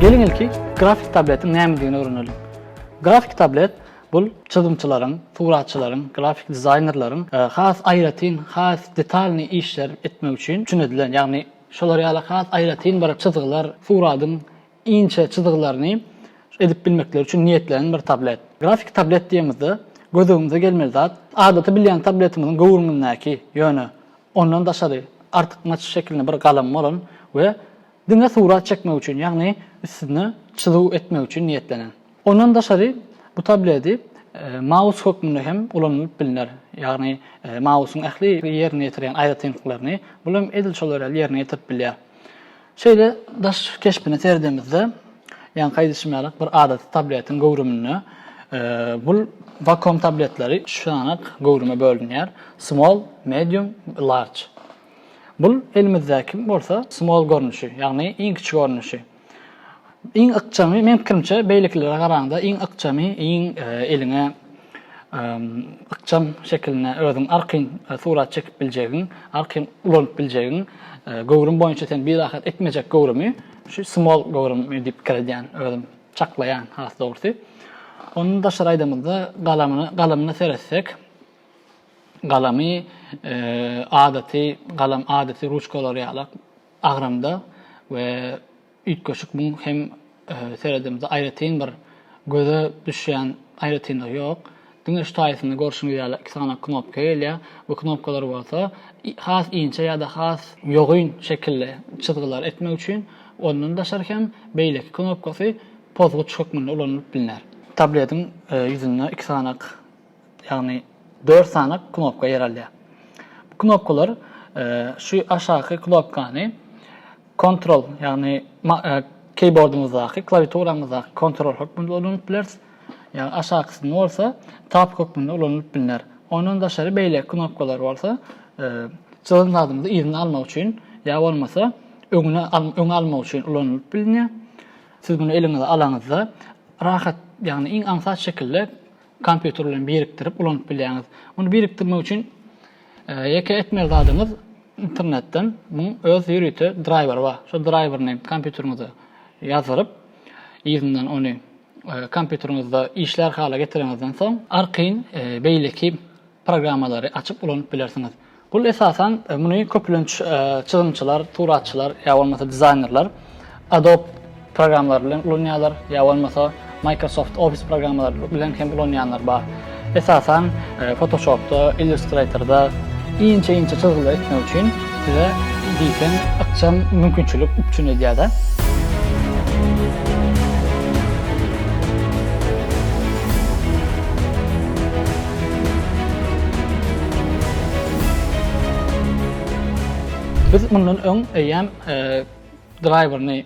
Geliň ilki grafik tabletiň nämedigini öwreneliň. Grafik tablet bul çyzymçylaryň, suratçylaryň, grafik dizaýnerleriň has aýratyn, has detalnyý işler etmek üçin üçin edilen, ýagny şolar ýaly has aýratyn bir çyzgylar, suradyň inçe çyzgylaryny edip bilmekleri üçin niýetlenen bir tablet. Grafiki tablet diýemizde, gözügiňize gelmeli zat, adaty bilýän tabletimiziň göwrümindäki, ýöne ondan daşary artykmaç şekilinde bir galam bolan we diňe surat çekmek üçin, ýagny üstüne çyzuw etmek üçin niýetlenen. Ondan daşary bu tableti maus hökmünde hem ulanylyp bilner, ýagny mausyň ähli ýerine ýetirýän aýratynlyklaryny bul hem edil şol ýerine ýetirip bilýär. Şeýle daş keşbine seredemizde, ýaňky aýdyşym ýaly, bir adaty tabletiň göwrüminde bul vakuum tabletleri üç sananak göwrüme bölünýär, small, medium, large. Bul elimizdäki bolsa small görnüşi, ýagny iň kiçi görnüşi. Iň ykjamy, meň pikirimçe, beýlekilere garaňda iň ykjamy, iň eliňe ykjam şekilinde özüň arkaýyn surat çekip biljegiň, arkaýyn ulanyp biljegiň göwrüm boýunça seni birahat etmejek göwrümi şu small göwrümi diýip pikir edýän özüm, çaklaýan has dogrusy. Ondan daşary aýdamyzda galamyna, galamyna seretsek, galamy adaty galam, adaty ruçkalar ýalak agramda we Üýtgeşik muň hem seredemizde aýratyn bir göze düşýän aýratynlygy ýok. Diňe şu taýsyny görşüňiz ýaly iki sany knopka gelýär. Bu knopkalar bolsa has inçe ýa-da has ýogyn şekilli çyzgylar etmek üçin, ondan daşary hem beýleki knopkasy pozguç hökmünde ulanylyp bilner. Tabletiň ýüzünde iki sany ýagny dört sany knopka ýer alýar. Bu knopkalar şu aşaky knopkany kontrol, ýagny keýbordumyzdaky, klawiaturamyzdaky kontrol hökmünde ulanyp bileris. Ýagny aşakysyny bolsa tab hökmünde ulanylyp bilner. Ondan daşary beýleki knopkalar bolsa çyzan zadymyzy yzyna almak üçin ýa bolmasa öňüne öňe almak üçin ulanylyp bilinýär. Siz muny eliňize alanyňyzda rahat, ýagny iň aňsat şekilde kompýuter bilen birikdirip ulanyp bilýäňiz. Muny birikdirmek üçin ýeke etmeli zadyňyz internetden muň öz ýörite draýweri bar. Şo draýwerini kompýuteriňize ýazdyryp, yzyndan ony kompýuteriňizde işlär hala getiriňizden soň, arkaýyn beýleki programmalary açyp ulanyp bilersiňiz. Bul esasan muny köplenç çyzymçylar, suratçylar ýa bolmasa dizaýnerler Adobe programmalary bilen ulanýarlar ýa bolmasa Microsoft Office programmalary bilen hem ulanýanlar bar. Esasan Photoshopda, Illustratorda inçe-inçe çyzgylar etmek üçin size diýseň ykjam mümkinçilik üpjün edýärde. Biz mundan öň eýýäm draýwerini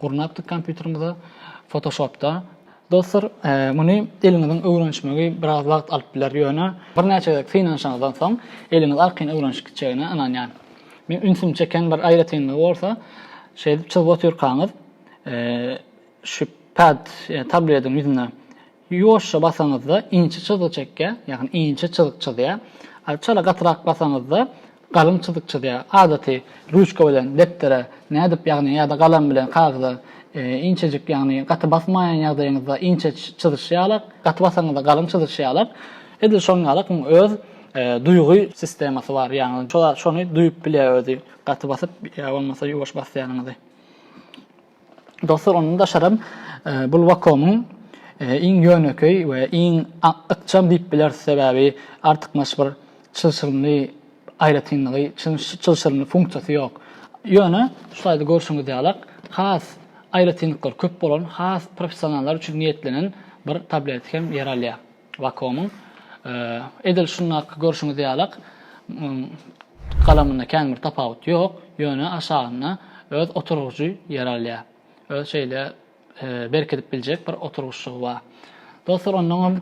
gurnapdyk kompýuterimize Photoshopda. Dostlar, muny eliňiziň öwrenişmegi biraz wagt alyp biler, ýöne birnäçe gezek synanyşyňyzdan soň eliňiz arkaýyn öwrenişip gitjegine ynanýan. Meň ünsümi çeken bir aýratynlygy bolsa, şeýdip çyzyp otyrkaňyz şu pad, ýa tablediň ýüzüne Ýuwaşja basaňyzda inçe çyzgy çekýär, ýagny inçe çyzyk çyzýar. A çala gatyrak basaňyzda galyň çyzyk çyzýar. Adaty ruçka bilen depdere nädip, ýagny ýa-da galam bilen kagyza inçejik, ýagny gaty basmaýan ýagdaýyňyzda inçe çyzyşy ýaly, gaty basaňyzda galyň çyzyşy ýaly, edil şoň ýaly muň öz duýgy sistemasy bar, ýagny şony duýup bilýär özi, gaty basyp ýa bolmasa ýuwaş basýanyňyzy. Dostlar, ondan daşaram bul Wacom-yň iň ýönekeý we iň ykjam diýip bileris, sebäbi artykmaç bir çylşyrymly aýratynlygy, çylşyrymly funksiýasy ýok. Ýöne şulaýda görşüňiz ýalak, has aýratynlyklary köp bolan, has professionallar üçin niýetlenen bir tablet hem ýer alýar. Wakomyň edil şundaky görşüňiz ýalak galamynda kän bir tapawut ýok, ýöne aşagynda öz oturgyjy ýer alýar. Öz şeýle berkidip biljek bir oturgyçlygy bar. Dostlar, ondan hem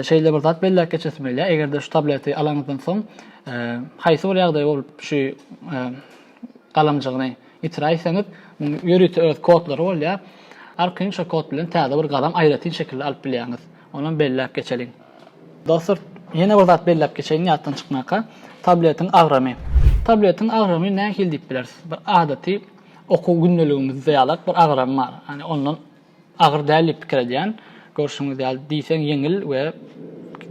şeýle bir zat belläp geçesim gelýär. Eger-de şu tableti alanyňyzdan soň haýsy bir ýagdaý bolup şu galamjygyny ýitiräýseňiz, ýörite öz kodlary bolýar. Arkaýyn şo kod bilen täze bir galam aýratyn şekilde alyp bilýäňiz. Onam belläp geçeliň. Dostlar, ýene bir zat belläp geçeýin ýatdan çykmaka, tabletiň agramy. Tabletiň agramy nähili diýip bilersiz? Bir adaty okuw gündeligimizde ýalak bir agramy bar. Ýani ondan agyr däl diýip pikir edýän. Görşüňiz ýaly diýseň ýeňil we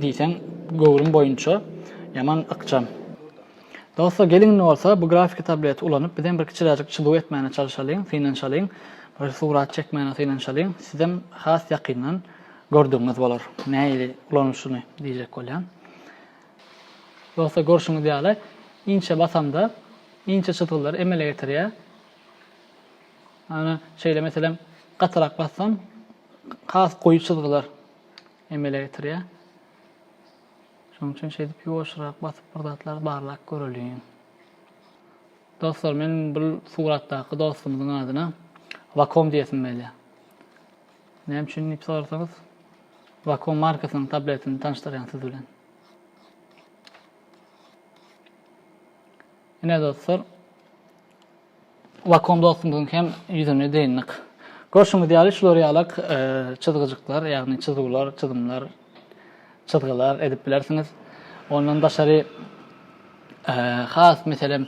diýseň göwrüm boýunça ýaman ykjam. Dostlar, geliň indi bolsa bu grafiki tableti ulanyp bizem bir kiçiräjik çyzuw etmäne çalyşalyň, synanyşalyň. Bir surat çekmäne synanyşalyň. Sizem has ýakyndan Gördügiňiz bolar, nähili ulanylyşyny diýjek bolýan. Ýogsa görşüňiz ýaly, inçe basamda, inçe çyzgylary emele getirýär. Ana, şeýle meselem, gatyrak bassam, has goýy çyzgylar emele getirýär. Şonuň üçin şeýdip ýuwaşrak basyp bir zatlar barlap göreliň. Dostlar, men bu suratdaky dostumyzyň adyna Vakom diýesim gelýär. Näme üçin diýip sorasaňyz, Vakuum markasynyň tabletini tanyşdyrýan siz bilen. Ine dostlar, Vakuum dostumyzyň hem ýüzüni dyndyk. Görşüňiz ýaly şular ýalak e, çyzgyjyklar, ýagny çyzuwlar, çyzymlar, çyzgylar edip bilersiňiz. Ondan daşary e, has meselem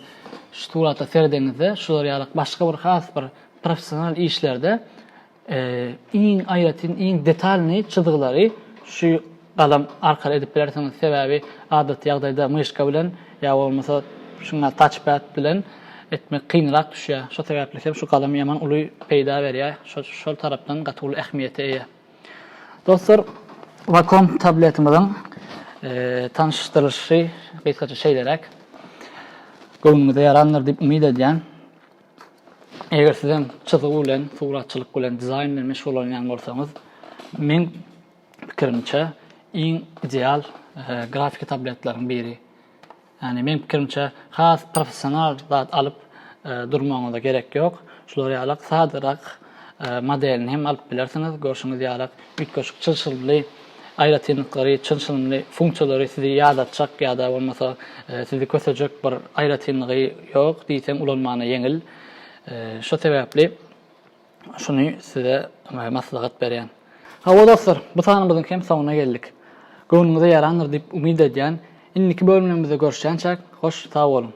şu surata serdeňizde şular ýalak başga bir has bir professional işlerde Iň aýratyn, iň detalnyý çyzgylary şu galam arkaly edip bilersiňiz, sebäbi adaty ýagdaýda myşka bilen ýa bolmasa şuňa taçpad bilen etmek kynrak düşýär. Şo sebäpli hem şu galam ýaman uly peýda berýär, şol tarapdan gaty uly ähmiýete eýe. Dostlar, Wacom tabletimiziň tanyşdyrylyşy gysgaça şeýleräk. Göwnüňize ýarandyr diýip umyt edýän. Eger siz hem çyzygy bilen, suratçylyk bilen, dizaýn bilen meşgullanýan bolsaňyz, meň pikirimçe, iň ideal e, grafiki tabletlaryň biri. Ýani meň pikirimçe, has professional zat alyp e, durmagyňyza gerek ýok. Şular ýalak sadarak modelini hem alyp bilersiňiz. Görşüňiz ýalak, üýtgeşik çylşyrymly aýratynlyklary, çylşyrymly funksiýalary sizi ýadatjak ýa-da bolmasa sizi kösejek bir aýratynlygy ýok, diýseň ulanmana ýeňil. Şo sebäpli şuny size maslahat berýän. Hawa dostlar, bu sanymyzyň hem soňuna geldik. Göwnüňize ýarandyr diýip umyt edýän. Indiki bölümlerimizde görüşýänçäk, hoş sag boluň!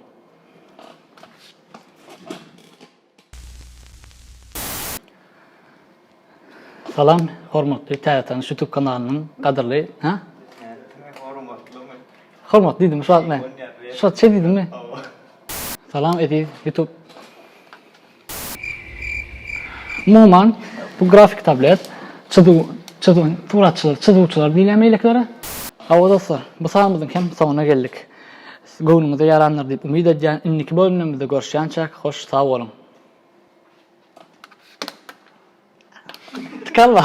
Salam, hormatly Täze tanyş YouTube kanalynyň gadyrly, ha? Hormatlymy? Hormat diýdim şu wagt men. Şu wagt şeý diýdimmi? Salam eziz YouTube. Umuman bu grafik tablet çyzuw çyzuw suratçylar çyzuwçylar diýilýär meýleklere. Hawa dostlar, bu sanymyzyň hem soňuna geldik. Göwnüňize ýarandyr diýip umyt edýän indiki bölümlerimizde görüşýänçäk hoş sag boluň. Tkalla.